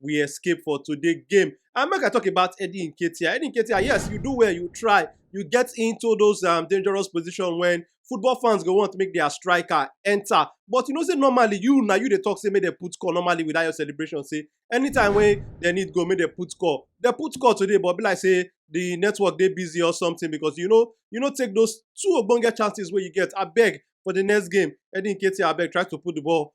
we escape for today game. And make I talk about Eddie Nketiah. Eddie Nketiah, yes, you do well, you try, you get into those um, dangerous position when football fans go want to make their striker enter. But you know, say normally you now you they talk say make they put score normally without your celebration. Say anytime when they need go, make they put score. They put score today, but be like say the network they busy or something because you know you know take those two ogbonge chances where you get. I beg for the next game, Eddie Nketiah, I beg try to put the ball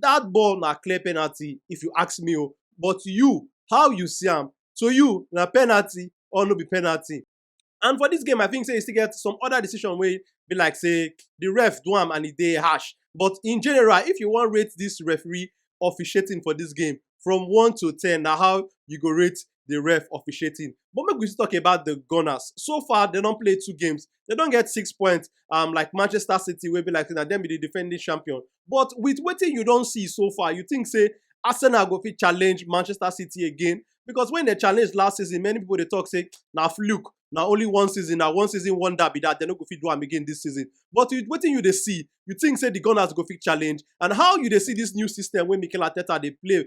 that ball na clear penalty if you ask me o but you how you see am to you na penalty or no be penalty and for this game I think say e still get some other decision wey be like say the ref do am and e dey harsh but in general if you wan rate this referee officiating for this game from one to ten na how you go rate the ref officiating but make we still talk about the gunners so far dem don play two games dem don get six points um, like manchester city wey be like say na dem be the defending champion but with wetin you don see so far, you think say Arsenal go fit challenge Manchester City again? Because when they challenge last season, many people they talk say na fluke, na only one season, na one season wonder be that they no go fit do am again this season. But with wetin you dey see, you think say the Gunners go fit challenge? And how you dey see this new system wey Mikel Arteta dey play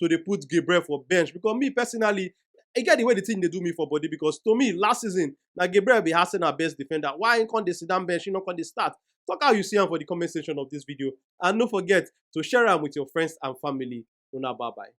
to dey put Gabriel for bench because me personally, e get the way the thing dey do me for body because to me last season na Gabriel be Arsenal best defender. Why he come dey sit down bench, he no come dey start? Talk how you see am for the comment section of this video and no forget to share am with your friends and family. Una bye bye.